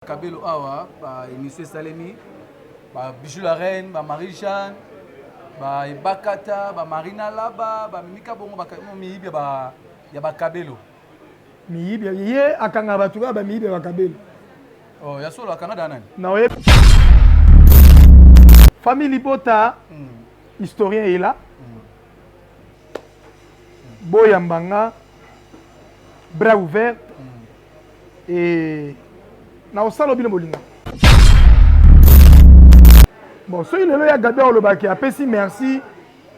Kabelo awa ba emission esalemi ba Bijou la Reine, ba Marie Jeanne, ba Ebakata, ba Marina Laba, ba Mimika bongo ba miyibi ya ba ya ba Kabelo. Miyibi ye akanga bato kaka ba miyibi ya ba Kabelo. Oh, ya solo akanga da nani? Na oye. Famille Libota mm. historien est là. Mm. Boyambanga bras ouvert Ee, nakosala oyo bino bolingaka. Bon, soki lelo ya Gabi olobaki apesi merci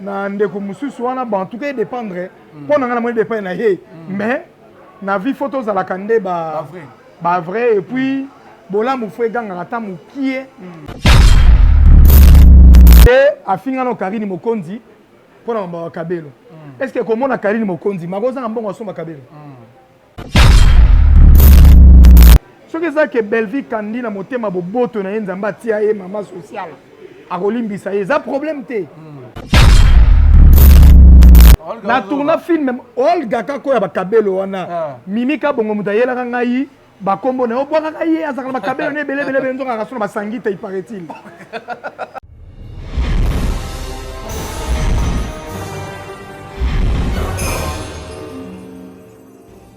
na ndeko mosusu wana, bon, en tout cas edépendre mpo hmm. na ngai namoni dépendre na ye hmm. mais na vie fo tozalaka nde ba ba vrai et puis bolamu fo egangaka ata mokie e afinga no karine mokonzi mpo na mamba wa kabelo est ce que komona karine mokonzi makozanga mbongo asomba kabelo soki eza ke bellevie kandi na motema boboto na ye nzambe atia ye mama sociale akolimbisa ye eza problème te na tourna film olga kako ya bakabelo wana ah. mimi kabongo moto ayelaka ngai bakombo na yo obwakaka ye azalaka na bakabelo na ebele ebele ebele nzoka akaso na basangi te iparetil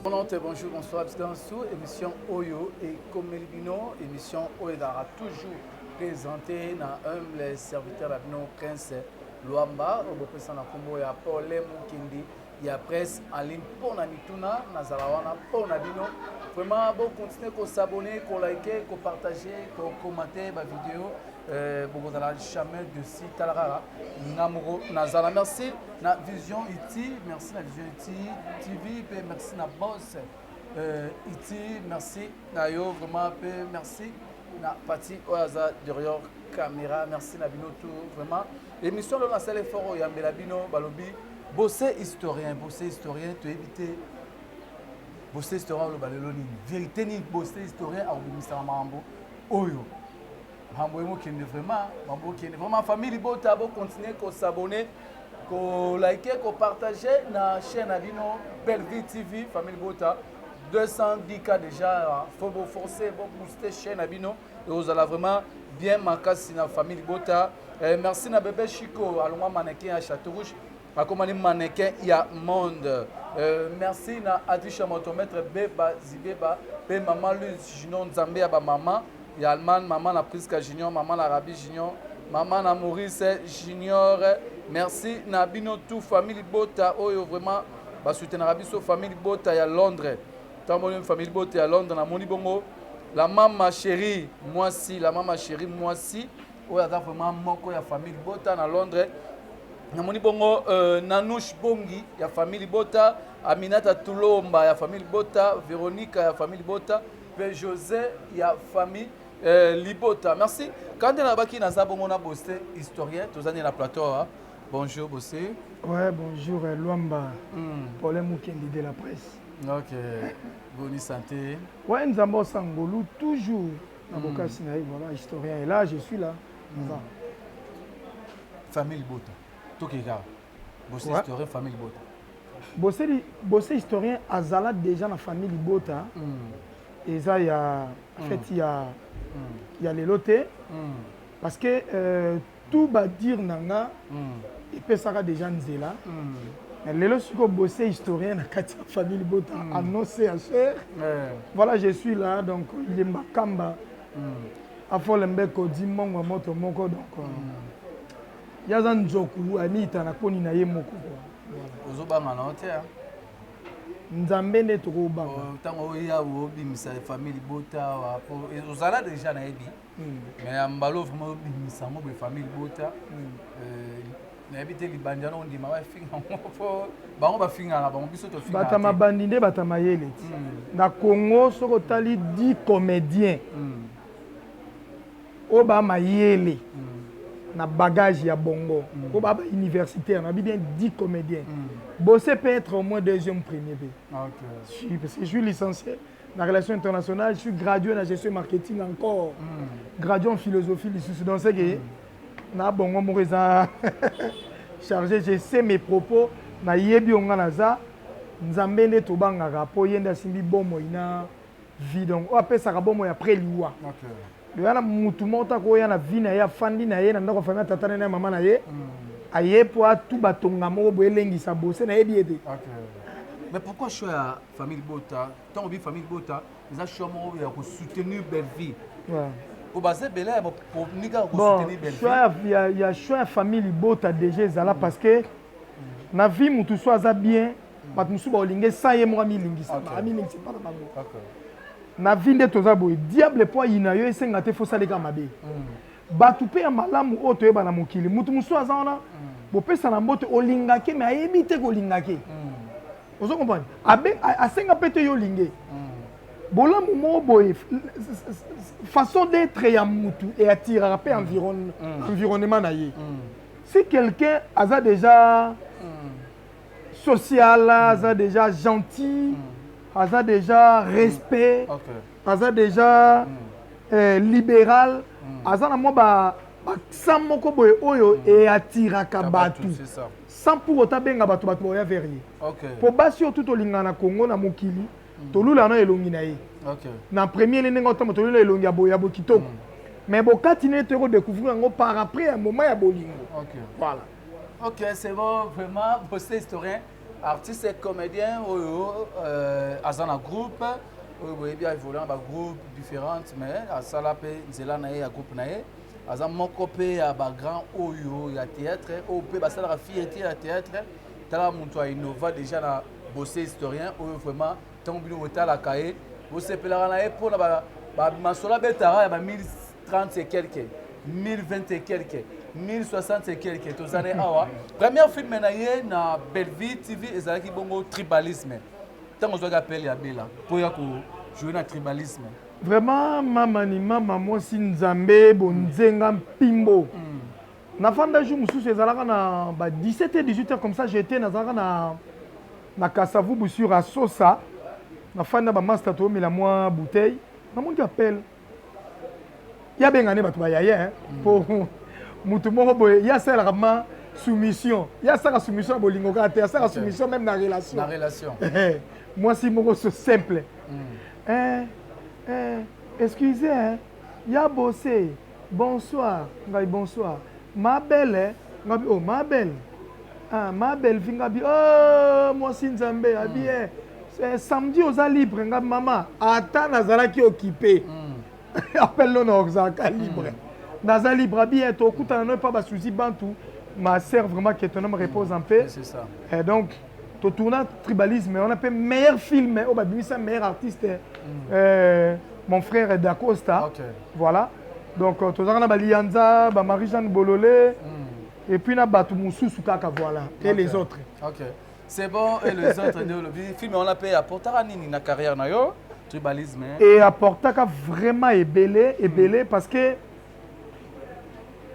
Bon note, bonjour, bonsoir, bisika na su émission oyo ekomeli bino émission oyo ezalaka toujours présenté na humble serviteur ya bino prince luamba oyo bopesa na nkombo ya pole mokindi ya presse en ligne mpo na mituna nazala wana mpo na bino vraiment bokontinue kosabone kolike kopartage kokomante bavideo euh, bokozala jamais de si tala kaka nga moko nazala merci na vision iti merci na vision iti tv mpe merci na bos euh, iti merci na yo vraiment mpe merci na pati oyo aza derior caméra merci na bino tout vraiment émission lelo nasala effort oyambela bino balobi bose historien bose historien toyebi te bose historien oloba lelo nini vérité nini bose historien akobimisaka makambo oyo Mambo ye mokende vraiment, mambo okende vraiment famille libota bo continuer ko s'abonner ko liker ko partager na chaîne na bino Bellevue TV famille libota 210 cas déjà faut bo forcer bo booster chaîne na bino et vous allez vraiment bien makasi na famille libota eh, merci na bebe Chico alongwa mannequin ya Château Rouge akomani mannequin ya monde euh, merci na adisha moto maître beba zibeba pe mama luz junior nzambe ya bamama ya allemagne mama na prisca junior mama na rabi junior mama na maurice junior merci na bino tout famille libota oyo vraiment basoutenaka biso famille libota ya londres tamboli famille libota ya londres namoni bongo la mama chérie mwasi la mama chérie mwasi oyo aza vraiment moko ya famille libota na londres namoni bongo euh, nanouche bongi ya famille libota aminata tulomba ya famille libota veronika ya famille libota mpe josé ya famille euh, libota merci kande nalobaki naza bongo na bose historien toza nde na plateau awa bonjour bose ouais bonjour euh, lwamba mm. pole mokendi de la presse ok boni santé ouais nzambe osangolu toujours na bokasi na ye voilà historien et là je suis là naza famille libota tokeka bose Ouais. historien famille libota bose li- bose historien azala déjà na famille libota eza ya feti ya ya lelo te parce que euh, Tout ba dire na nga epesaka dejà nzela mais lelo sikoyo Bosse historien na kati ya famille libota en non CHR. Voilà je suis là donc Yemba Kamba Afole Mbeko dit Mongo ya moto moko donc ye aza nzoku amiyita na koni na ye moko quoi. Ozo banga na yo te hein? Nzambe nde toko banga. Tango oya obimisa famille libota awa ozala dejà na ye bien? mais ya mbalo vraiment obimisa yango boye famille libota euh, nayebi te libandi wana ondima bafinga yango po bango bafingaka bango biso tofingabata mabandi nde bata mayele ti hmm. na congo soki otali di comédien hmm. oyo ba mayele hmm. na bagage ya bongo oyo ba bauniversitaire nayebi bien di comédien bose peut être au moins deuxième premier be ah, okay. parce que je suis licencié na relation internationale je suis gradué na gestion marketing encore mm. gradué en philosophie lisusu donc c'est que mm. na bongo moko eza chargé je sais mes propos nayebi yo ngai naza nzambe nde tobangaka mpo ye nde asimbi bomoi na vie donc oyo apesaka bomoi après liwa okay. loya na mutu moko ta koya na vie na ye afandi na ye na ndako afandi na tata na ye mama na ye mm. aye mpo atu batonga moko boye elengisa bose nayebi ye te okay. mais pourquoi choix famille libota ntango obi famille libota eza choix moko ya kosoutenir bellevie po baza ebele ya boninga ya kosoutenir bellevie ya choix ya famille libota déjà ezala mm. parce que na vie motu so aza bien mm. bato mosusu baolinga esa ye moko amilingisa amilingisa epa na bango na vie nde toza boye diable mpo ayina yo esenga te fosaleka mabe mm. bato mpe ya malamu oyo toyeba na mokili motu mosusu aza wana bopesana mbote olingake me ayebi te kolingake ozo comprendre abe asenga mpe te yo olinge hmm. bolamu moko boye façon d'être ya mutu e attiraka mpe hmm. hmm. environnement na ye si quelqu'un aza déjà social aza déjà gentil aza déjà respect aza déjà euh, libéral aza na mwa ba bakisa moko boye oyo eatiraka bato Sans pour autant benga batu batu baoya vers ye. Okay. Po basi oyo tout tolingana na Congo na mokili mm. tolula na elongi na ye. Okay. Na premier le ndenge otamba tolula elongi ya boya bo kitoko. Mm. Mais bokati ne te ko découvrir yango par après ya moment ya bolingo. Okay. Voilà. Ok, c'est bon, vraiment, bossé historien, artiste et comédien, oyo, oh, oh, oh, euh, aza na groupe, oyo boyebi aévolue na bagroupe différente, mais asala mpe nzela na ye ya groupe na ye. aza moko pe ya ba grand oyo ya theatre oyo pe basalaka fiete ya theatre tala moto ya innova déjà na bosse historien oyo vraiment ntango bino botalaka ye bosepelaka na ye mpo na bamasolo abetaka ya ba 1030 et quelque 1020 et quelque 1060 et quelque toza ne awa première film na ye na bellevie tv ezalaki bongo tribalisme ntango ozwaki appel ya bela mpo ya kojoue na tribalisme Vraiment mama ni mama mwasi nzambe bonzenga mpimbo mm. nafanda jour mosusu ezalaka na ba 17 et 18 heures comme ça j'étais nazalaka na na kasavubu sur asosa nafandi na bamasta toyomela mwa bouteille namonaki appel ya benga ne bato bayaye mpo mm. motu moko boye ye asalelaka ma soumission ye asaka soumission ya bolingo kaka te asaka soumission meme na relation mwasi moko so simple eh eh excuse hein ya bose bonsoir ngabi bonsoir ma belle ngabi oh ma belle ah ma belle fille ngabi oh mwasi nzambe abi eh eh, samedi oza libre nga mama ata nazalaki okipe mm. appel no na ozalaka libre mm. naza libre abi eh, tokutana no epa basuzi bantu ma sœur vraiment que ton homme repose en paix et donc to tourna tribalisme wana mpe meilleur film oyo babimisa meilleur artiste mm. euh, mon frère dacosta okay. voilà donc euh, tozalaka na balianza bamarie jeanne bolole mm. epuis na bato mosusu kaka voilà okay. et les autres okay. c'est bon et les autres nde olobi film wana mpe apportaka nini na carrière na yo tribalisme e apportaka vraiment ebele ebele mm. parce que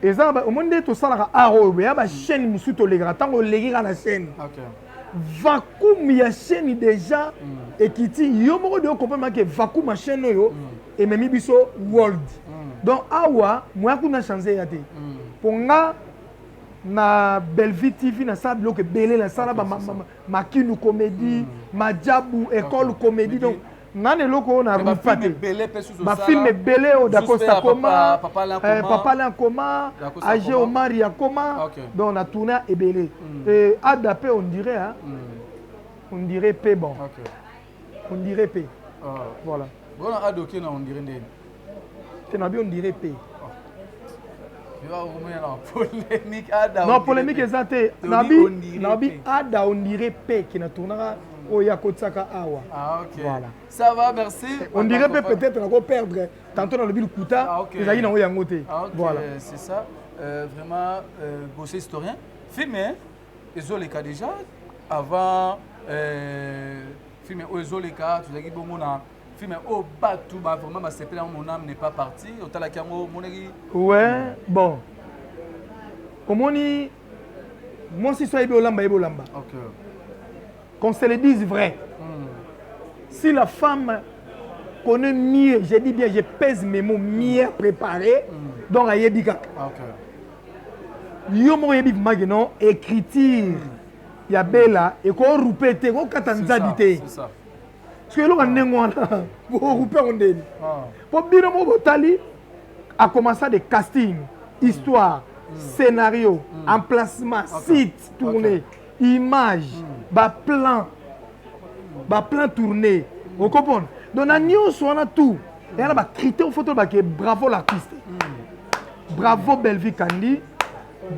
eza omoni nde tosalaka art oyo ya ba chaîne mosusu tolekaka ntango oleki kaka na chaîne vacuum ya chaîne déjà mm. ekiti yo moko de okompama ke vacuum ya chaîne oyo mm. ememi biso world mm. donc awa moya kuna change eya te mpo nga na bellevue tv nasala biloko ebele nasala makindu comédie majabu école comédie donc nga na eloko oyo na rupa te bafilme ebele oyo dacosta akoma papa alain akoma age omari akoma donc na tourna ebele hmm. ada mpe on dirait hmm. on dirait mpe bon on dirait mpe ah. voilà bona ada oke na on dirait ndeni te na bi on dirait pe non polémique eza te nabi ada on dirait pe ke na tournaka oyo akotisaka awa ah, voilà ça va merci eh, on dirait pe peut-être nako perdre tantôt nalobi lokuta ah, ezalaki nango yango te ah, voilà c'est ça euh, vraiment euh, bosse historien film ezoleka déjà avant euh, film oyo ezoleka tozalaki bongo na film oyo batu ba vraiment ba sepela mon âme n'est pas partie otalaki yango omonaki ouais bon omoni mwasi so ayebi olamba yebi olamba okay. qu'on se le dise vrai mm. si la femme connaît mieux je dis bien je pèse mes mots mieux préparé mm. donc ayebi kaka okay. yo moko oyebi mage non écriture mm. ya bela ekorupe te ekokata nzabi te soki eloko ya ndenge wana bokupe yango ndeni mpo bino moko botali akomansa de casting histoire mm. scénario mm. emplacement site tourné image mm. baplan baplan tourné okomprendre donc na nyonso wana tout eya na bacritère foto bake bravo l'artiste bravo bellevie kandi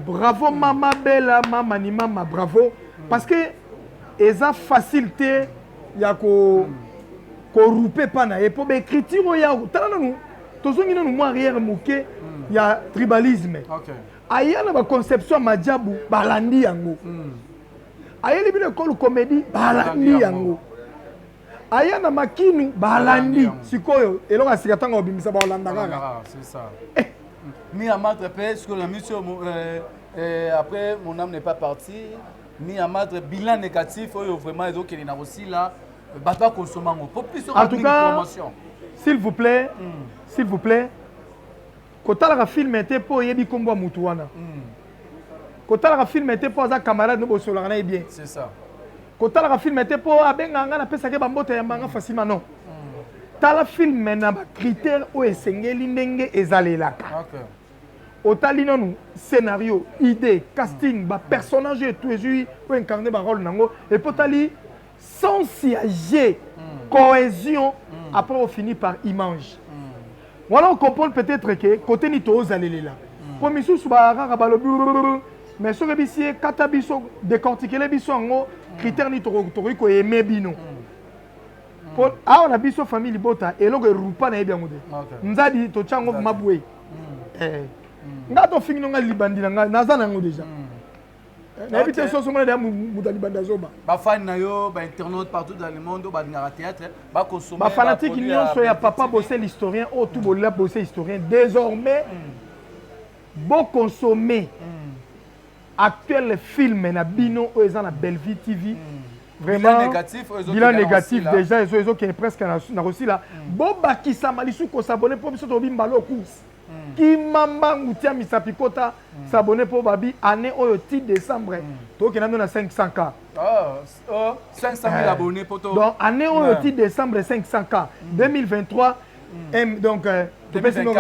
bravo mama bela mama ni mama bravo parce que eza facile te ya ko korupe epa na ye mpo baécriture oyo ya tala nanu tozongi nanu mwa arrière moke hmm. ya tribalisme aya na baconception ya majabu balandi yango hmm. ayeli bino ekole comédie balandi yango aya na makinu balandi sikoyo eloko ya sika ntango obimisa baolanda kaka eh. mi amatre mpe sikoyo na miso euh, euh, après mon âme n'est pas partie ni amadre bilan négatif oyo vraiment ezokende na kosila bato bakonsoma yango po plus en tout cas promotion s'il vous plaît mm. s'il vous plaît kotalaka filme te mpo oyebi nkombo ya motu wana mm. kotalaka filme te mpo aza camarade no bosolaka na ye bien c'est ça kotalaka filme te mpo abengaka ngai napesaki bambota ya mbanga fasima non mm. tala filme na bacritère oyo esengeli ndenge ezalelaka okay. otali nanu scenario idee casting ba personnage oyo etu ezui po incarne ba role nango epuis otali sens ya jeu cohesion apres ofini par image wana o comprendre peut etre ke cote nini tozalelela po misusu ba kaka balobi mais soki oyebisi ye kata biso decortikele biso yango critère nini tokoki ko aimer bino po awa na biso famille libota eloko erupa na yebi yango te nzadi totya yango vrima boye mm. eh. mm. nga tofingi no nga libandi na nga naza na yango deja mm. eh, nayebi te soso mona deya moto ya libandi azoba bafani na yo bainternaute partout dans le monde oyo balingaka théâtre bakosoma bafanatike nyonso ya papa bose l'historien oyo tu bolela bose historien désormais boconsomme Actuel film na bino oyo eza na Bellevue TV. Vraiment bilan négatif déjà ezo ezo kende presque na kosila. Bo bakisa malisu ko s'abonner mpo biso tobi mbalo course. Kima mbangu tia misapi kota s'abonner mpo babi année oyo ti décembre tokenda nde na 500k. oh, 500 000 eh. abonnés poto donc année oyo ti décembre 500 k 2023 m donc euh, topesi moko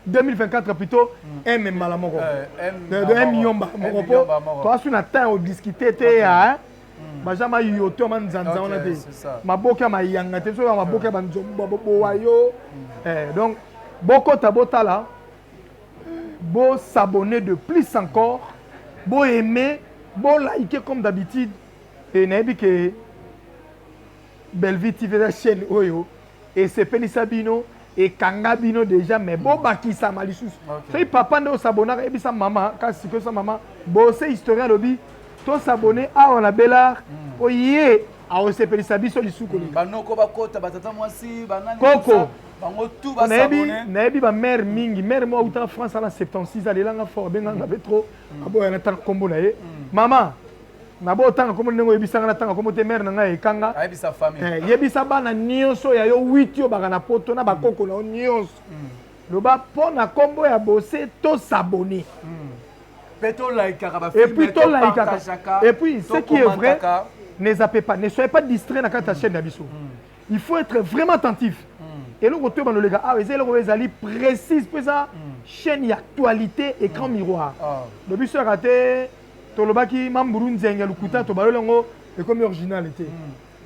2024 plutôt m mm. mbala moko euh, de m yomba moko po toasi na temps odiscute te ya mm. baza mayoto ma nzanza wana te maboke ya mayanga te soki ya maboke ya banzombo bobowa yo mm. eh, donc bokota botala Bo s'abonner de plus encore, bo aimer, bo liker comme d'habitude. Et nayebi que Bellevue TV eza chaîne oyo esepelisa bino, ekanga bino dejà mais bo bakisama lisusu. Soki papa nde o s'abonnaka yebisa mama kasi sikoyo sa mama Bose historien alobi to s'abonner awa na Bel'art po ye akosepelisa biso lisusu koleka. Banoko bakota batata mwasi banani. Koko. nayebi bamare mingi mare moko autaka france ana 76 alelanga fort abenganga mpe trop mm. aboya natanga nkombo na ye mm. mama nabo otanga nkombo ndenge oyebisanga natanga nkombo te mare na ngai ekanga eh, yebisa bana nyonso ya yo 8 yo baka na poto na bakoko na yo nyonso mm. loba mpo na nkombo ya bose to sabone et puis tolaikaka et puis ce qui est vrai ne zape pas ne soyez pas distrait na kati ya chaîne na biso il faut être vraiment attentif hmm. eloko toyeba noleka awa eza eloko ezali précise mpe eza hmm. chaîne ya actualité écran hmm. miroir ah. do biso yaka te tolobaki mamburu nzenge lokuta tobaloli yango ekomi original te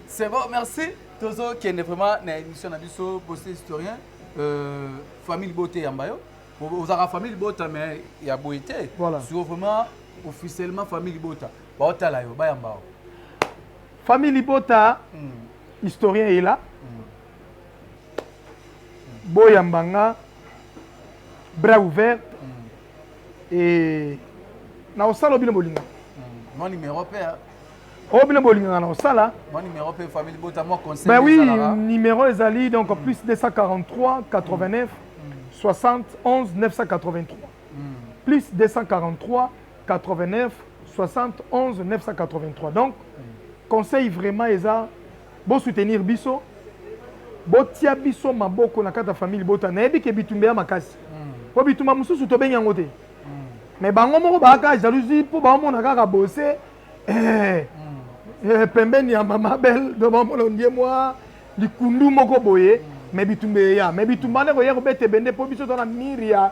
c'est bon merci tozokende vraiment na émission na biso bosi historien euh, famille libote yamba yo ozalaka famille libota mais ya boye te sur vraiment officiellement famille libota baotala yo bayamba yo Famille libota historien est là. Boya mbanga bras ouvert et na osala bino bolinga. Mon numéro père. Oh bino bolinga na osala. Mon numéro père famille libota moi conseil. Ben oui, numéro ezali donc mm. plus 243 89 60 11 983. Plus 243 89711983 donc conseil vraiment eza bo soutenir biso botia biso maboko na kata famille libota nayebi ke bitumba ya makasi po bitumba mosusu tobengi yango te mais bango moko baaka jalousie po baomona kaka bose eh, eh, pembeni ya mama bel domamona ondie mwa likundu moko boye mais bitumba eya mais bitumba nde koya kobeta ebende po biso tona mire ya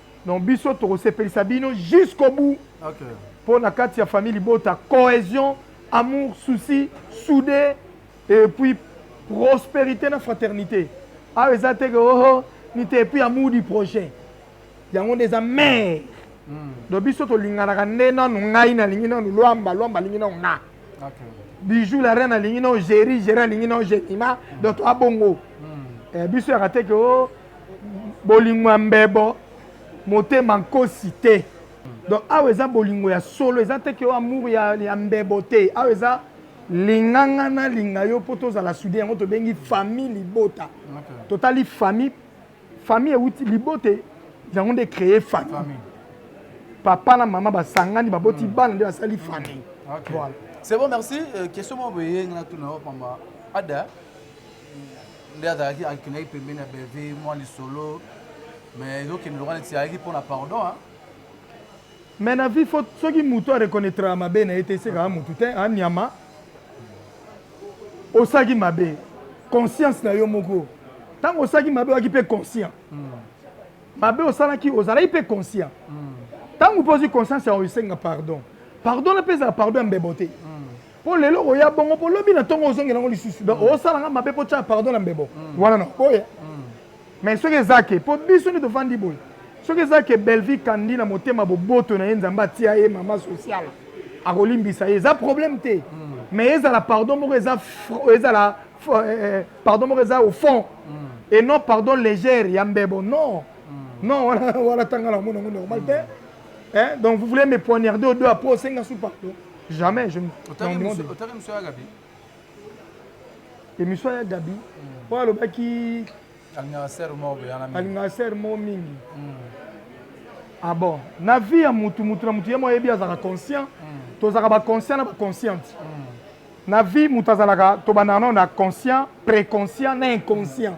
Donc biso toko sepelisa bino jusqu'au bout. OK. Mpo na kati ya famille libota cohesion, amour, souci, soude et puis prosperité na fraternité. Awa eza te que oh, oh nite et puis amour du prochain. Yango nde eza mère. Mm. Donc biso tolinganaka nde nanu ngai nalingi nanu lwamba lwamba alingi nanu nga. Okay. Bijou la reine alingi nanu Jerry Jerry alingi nanu Jemima. Mm. Donc toa bongo. Mm. Eh, biso yaka te que oh Bolingo ya mbebo, motema nkosi te. Donc awa eza bolingo ya solo, eza te ke amour ya, ya mbebo te. Awa eza linga nga nalinga yo mpo tozala sude, yango tobengi famille libota. Okay. Totali famille, famille euti libota yango nde créer famille. famille. Papa na mama basangani baboti mm. bana nde basali famille. Okay. Voilà. C'est bon, merci. Euh, question moko boye nga na tuna yo pamba. Ada nde azalaki akendaki pembeni ya bellevie mwa lisolo mais ezokende lokola neti ayaki mpo na pardon hein. mais na vie faut soki motu areconnaitraka mabe na ye te esekaka motu te anyama osaki mabe conscience na yo moko ntango osalaki mabe oyaki mpe conscient hmm. mabe osalaki ozalaki mpe conscient hmm. ntango mpe ozwi conscience yango esenga pardon pardon na mpe ezala pardon ya mbebo te mm. Po lelo okoya bongo po lobi na tongo ozongela ngo lisusu. Donc mm. osala nga mabe po tia pardon na mbebo. Mm. Wana na oya. Mm. Mais soki eza ke po biso nde tofandi boye. Soki eza ke Bellevue kandi na motema boboto na ye Nzambe atia ye mama sociale. Akolimbisa ye eza problème te. Mais ezala pardon moko eza ezala euh, euh, pardon moko eza au fond. Et non pardon légère ya mbebo non. Non wana wana tanga na mona ngo normal te. Hein? Donc vous voulez me poignarder au dos après osenga sous pardon. Jamais je otaki miso ya Gabi. Emission ya Gabi po hmm. alobaki alingaka sœur moko boyana mingi. Alingaka sœur moko mingi. Hmm. Ah bon, na vie ya mutu mutu na mutu ye moko ayebi azalaka conscient. Hmm. Tozalaka ba conscient na ba consciente. Na vie mutu azalaka tobandaka na conscient, préconscient na inconscient.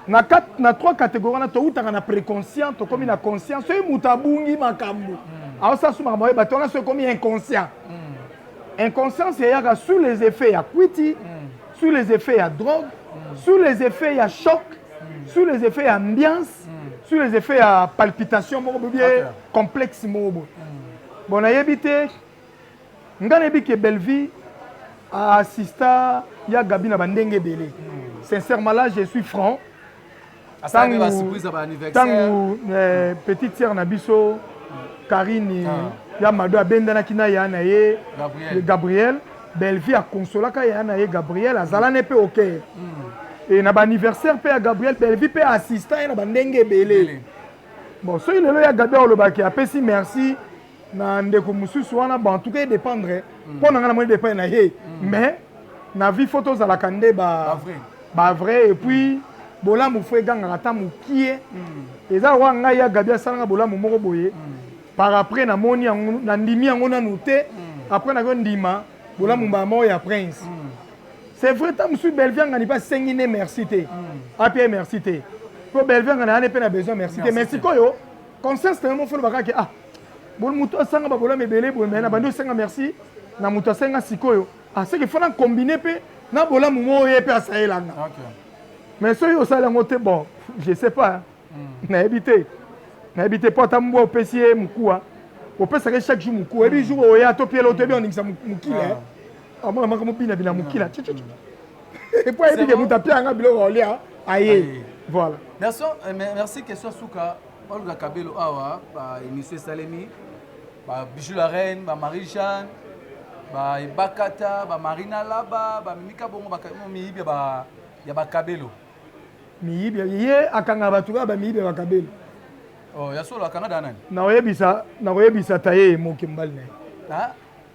na kati na trois catégorie wana towutaka na préconscient tokomi na conscient soki moto abungi makambo hmm. aosala su makambo ayeba te wana so ekomi inconscient hmm. inconscience eyaka sous les effets ya kwiti hmm. sous les effets ya drogue sous les effets ya choc sous les effets ya ambiance sous les effets ya palpitation moko bobie complexe moko boye bon nayebi te Nga nayebi ke Bellevue a assista ya Gaby na ba ndenge ebele. Sincèrement là je suis franc. Asalaki ba surprise ya ba anniversaire. Tangu euh, petite sœur na biso Karine ah. ya Mado abendanaki na ya na ye Gabriel. Gabriel. Bellevue akonsolaka ya na ye Gabriel azala ne pe ok. Mm. Et na ba anniversaire pe ya Gabriel Bellevue pe assista ye na ba ndenge ebele. Bon soki lelo ya Gabriel olobaki apesi merci na ndeko mosusu wana bon en tout cas e dépendre mm. mpo na ngai namoni dépendre na ye mm. mais na vie fo tozalaka nde ba ba vrai et puis bolamu fo egangaka ata mokie mm. eza lokola ngai ya gabi asalanga bolamu moko boye par après namoni yango nandimi yango nanu te après nakoki ndima bolamu mbala moko ya prince c'est vrai ntango mosusu bellevie angani mpe asengi nde merci te apia merci te mpo bellevie angani ayani mpe na besoin merci te mais sikoyo conscience na yo moko foloba kaka ah bon moto asanga babolami ebele boye mai na bandi osenga merci na moto asenga sikoyo aseke ah, fana combine mpe na bolamu moko ye mpe asalelanga mais soki osali yango te bon je sais pas hmm. nayebi te nayebi te mpo ata mbwa opesi ye mokuwa opesaka ye chaque jour mokuwa oyebi hmm. jour oya to pielo to yebi ondingisa mokila ah. eh. amona maka mobinabina mokila hmm. epo ayebi ke moto apia yanga biloko olia aye voilà merci euh, merci question suka olga kabelo awa ba émission esalemi ba bijou la reine ba marie jeanne ba ebakata ba marina laba ba mimika bongo ba miyibi ba ya ba kabelo miyibi ye akanga bato kaka ba miyibi ya ba kabelo oh ya solo akanga da nani nakoyebisa nakoyebisa taye moke mobali na ye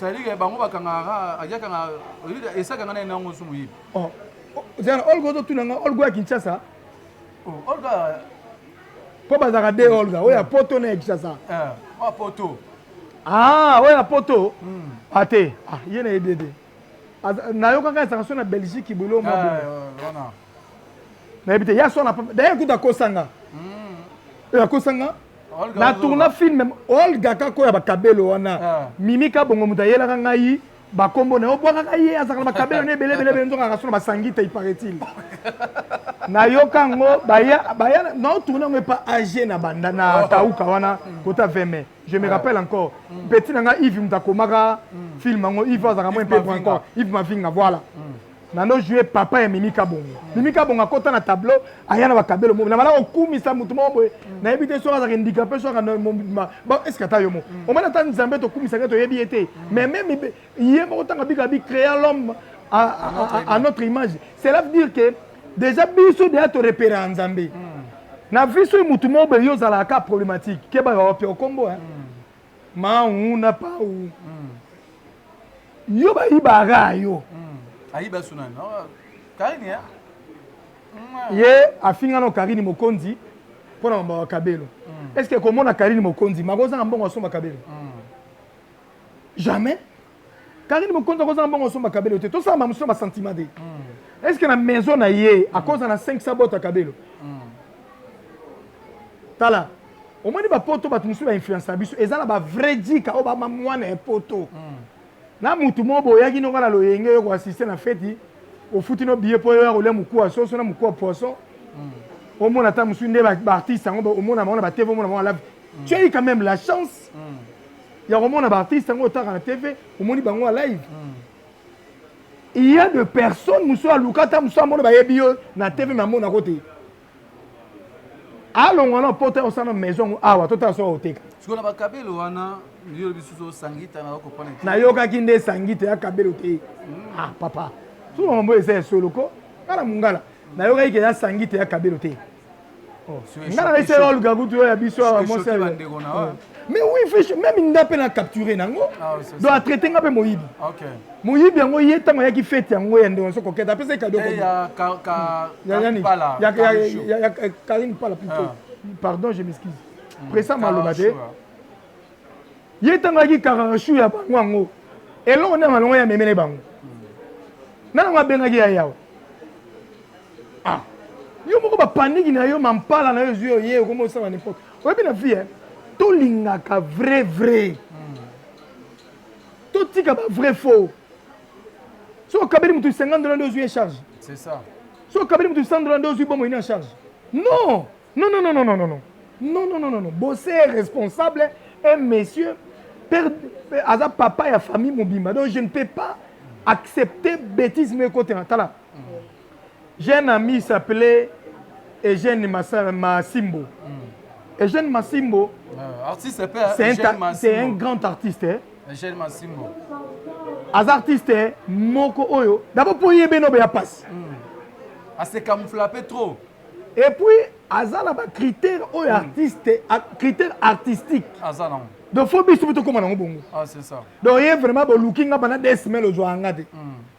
Sadiga bango bakangaka ajakanga esakanga na enango nsu moyibi. Oh, oh, zana olga ozotuna nga olga ya Kinshasa. Oh, olga mpo bazalaka de olga oyo ya poto na ya Kinshasa. Eh, oyo poto. Ah, oyo ya poto. Hmm. Ate, ah, ah, ye na yebi ete. Nayokaka esaka so na Belgique boilo mwa boye. Eh, wana. Nayebi te ya so na d'ailleurs kuta kosanga. Hmm. Oyo akosanga na tourna film olga kako ya bakabelo wana ah. mimi kabongo moto ayelaka ngai bakombo na yo obwakaka ye azalaka na bakabelo na ebele ebele ebele nzoka akaso na basangi te iparaît-il nayoka yango baya naotourne yango epa age na banda na kauka oh. wana kota 20 mai je me ah. rappelle encore mm. petit na ngai ive moto akomaka mm. film yango ive azalaka mwa mpe encore ive mavinga voilà mm. Nano jouer papa ya Mimi Kabongo. Mimi Kabongo akota na tableau, aya na bakabelo mobi. Na bala kokumisa mutu moko boye. Mm. Na yebi te soki azaka ndika pe soki na mobima. Ba est-ce que ata yo mo. Mm. Omana ta Nzambe to kumisa ke to yebi ye te. Mm. Mais même ye moko tanga bika bi créa l'homme à, à, à, à notre image. Cela veut dire que déjà biso déjà to repérer en Nzambe. Na vie soki mutu moko boye yo ozalaka problématique. Keba yo pe okombo hein. Mawu na pawu. Yo bayibaka yo. Ayiba sunani. Karine ya. Ye afinga no Karine Mokonzi mpo na mambo ya kabelo. Est-ce que komona Karine Mokonzi makozanga mbongo asomba kabelo? Jamais. Karine Mokonzi akoza na mbongo asomba kabelo te tosala mamusu na basentiment te est ce que na maison na ye akoza na 500 bota kabelo tala omoni bapoto bato mosusu bainfluence na biso eza na bavrai jika oyo bama mwana ya poto na motu moko boyaki noko na loyenge yo koassiste na feti ofuti no biye mpo yoya kolia moku ya soso na moku ya poisson omona ata mosusu nde baartiste yango omona bango na bateve omona bango alavi tu as eu quand même la chance ya komona ba artiste yango otaka na tv omoni bango ya live mm. il y a de personnes mosusu aluka ata mosusu amona bayebi yo na tv me amonako te alongwa na poto ya kosala na maison yango awa totala soki akoteka sikoyo na bakabelo wana yo lobi susu sangita na okopana nayokaki nde sangita ya kabelo te mm. ah papa soki makambo eza ya solo ko kala mongala nayokaki ke ya sangita ya kabelo te nga na laisser yo luka kutu yo ya biso awa mwasi ya bandeko na wa mais oui fiche meme nga mpe na capture nango ah, donc atraite nga mpe moyibi moyibi yango ye ntango ayaki fete yango ya ndeko naso koketa apesa ye kado eh, ya karine pala plutôt ah. pardon je m'excuse hmm, presa maloba te ye ntango ayaki kararashu ya bango yango eloko nde malongo ya memele bango hmm. nanango abengaki ya yawa Ah. Yo moko ba panique na yo mampala na yo ezwi yo ye okomi osala n'importe. Oyebi na vie hein? Tolingaka vrai vrai. Hmm. Totika ba vrai faux. So okabeli mutu 50 dollars ndio ozwi charge. C'est ça. So okabeli mutu 100 dollars ndio ozwi bomo ina charge. Non. Non non non non non non. Non non non non non. Bosse est responsable un monsieur père aza papa ya famille mobimba. Donc je ne peux pas accepter bêtise mais côté na tala. J'ai un ami s'appelait Eugène Massimbo. Mm. Eugène Massimbo, euh, artiste, c'est un, un, grand artiste. Hein? Eugène Massimbo. As artiste hein? moko oyo. D'abord pour y beno ya passe. Mm. Ah c'est camouflapé trop. Et puis aza na ba critère oyo mm. artiste, critère artistique. Aza na. Donc faut biso to koma na bongo. Ah c'est ça. Donc y vraiment bo looking na bana des semaines ozo angate. Mm.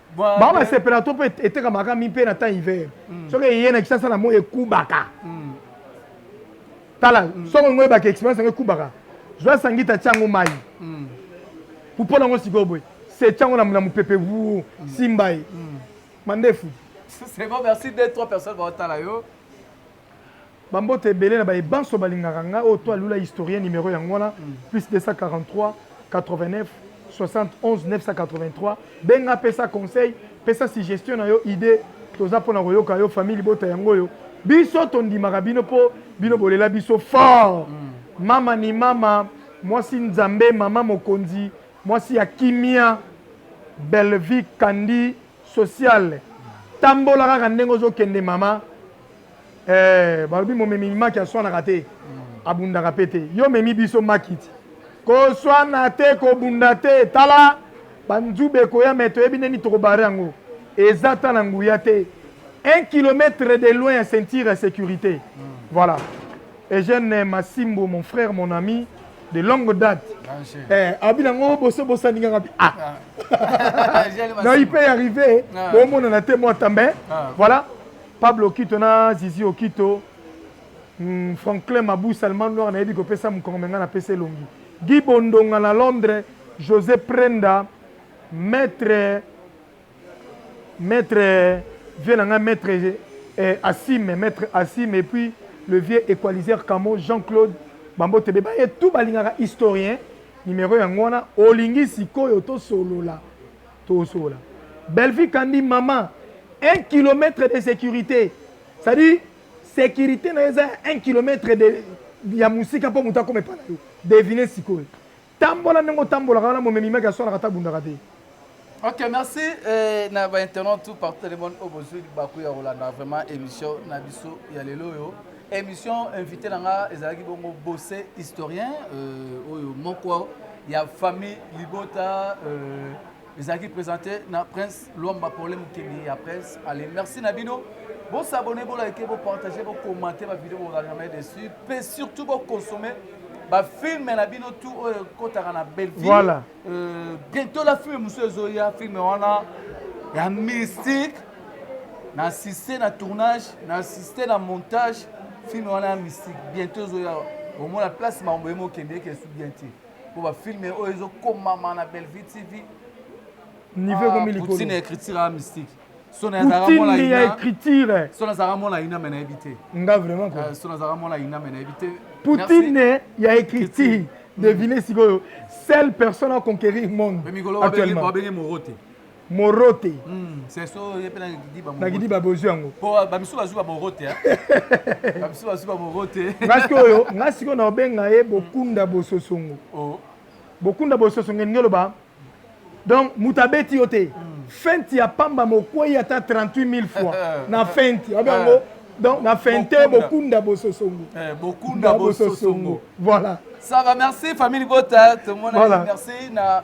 bango basepela to mpe etekamaka mi mpe na temps hiver mm. soki eye na kisasa na moi ekubaka mm. tala mm. soki yango oyebaka experience yango ekubaka zwa sangita tya yango mai pupola yango sikoyo boye setya yango na mopepe wu simba ye mandefu C'est bon, merci. Deux, trois personnes vont être là. Ba mbote ebele na baye banso balingaka nga oyo toi lula historien numero yango wana plus 2438761983 benga pesa conseil pesa suggestion na yo idee toza pona koyoka yo famille libota yango oyo biso tondimaka bino po bino bolela biso fort mama ni mama mwasi nzambe mama mokonzi mwasi ya kimia bellevie kandy social tambola kaka ndenge ozo kende mama eh, balobi momemi maki aswanaka te abundaka pe te yo memi biso makiti koswana te kobunda te tala banzube ekoya me toyebi ndeni tokobare yango eza ta na nguya te un kilomètre de loin ya ceinture ya sécurité voilà eugène masimbo mon frère mon ami de longue date eh, abi nango boso bosani nga ngabi ah na ipe arrive ah. bomonana te mwa tambe ah. voilà pablo okito na zizi okito hmm, franklin mabu salman noir nayebi kopesa mokongo me ngai napesa elongi gi bondonga na londres josé prenda maître Maitre vieux na ngai maitre eh, Asime, maitre Asime et puis le vieux equaliseur Kamo, Jean-Claude, ba mbote be baye tout balingaka historien, numero yango wana, olingi sikoyo tosolola, tosolola. Bellevue Kandy mama, un kilomètre de securite, c'est à dire securite na yo eza ya un kilomètre de ya mosika mpo moto akoma epai na yo, deviner sikoyo. Tambola ndenge otambolaka wana momemi maki aswanaka ata abundaka te. Ok, merci eh, na ba internautes tout partout le monde obozui baku ya kolanda vraiment émission na biso ya lelo oyo. Émission invité na nga ezalaki bongo Bosse historien euh, oyo moko ya famille libota euh, ezalaki presente na prince lwamba pole mokili ya presse ale merci na bino bosabone bolike bopartage bokomante bavideo bozala jamais dessus mpe surtout boconsome bafilme na bino tu oyo ekotaka na belleville voilà. euh, bientôt la filme mosusu ezoya filme wana ya mystique na assiste na tournage na assiste na montage filme wana ya mystique bientôt ezoya omona place makambo ye mokendeke esu bien te po ba film oyo ezo komama na Bellevue TV niveau ah, ekomi likolo poutine écriture ya mystique sona azalaka mona ina ya écriture sona azalaka mona ina mais nayebi te nga vraiment quoi ah, sona azalaka mona ina mais nayebi te poutine ya écriture devine sikoyo seule personne à conquérir monde actuellement babenge morote morote nakidi babozwi yango nga sikoyo nga sikoyo na obenga ye bokunda bososongo oh. bokunda bososongo elingi oloba donc moto abeti yo te hmm. fenti ya pamba mokwei ata 38 000 fois na fenti obi yango eh. donc na fente bokunda bososongo eh, bokunda bososongo voilà ça va merci famille libota tomonaki merci na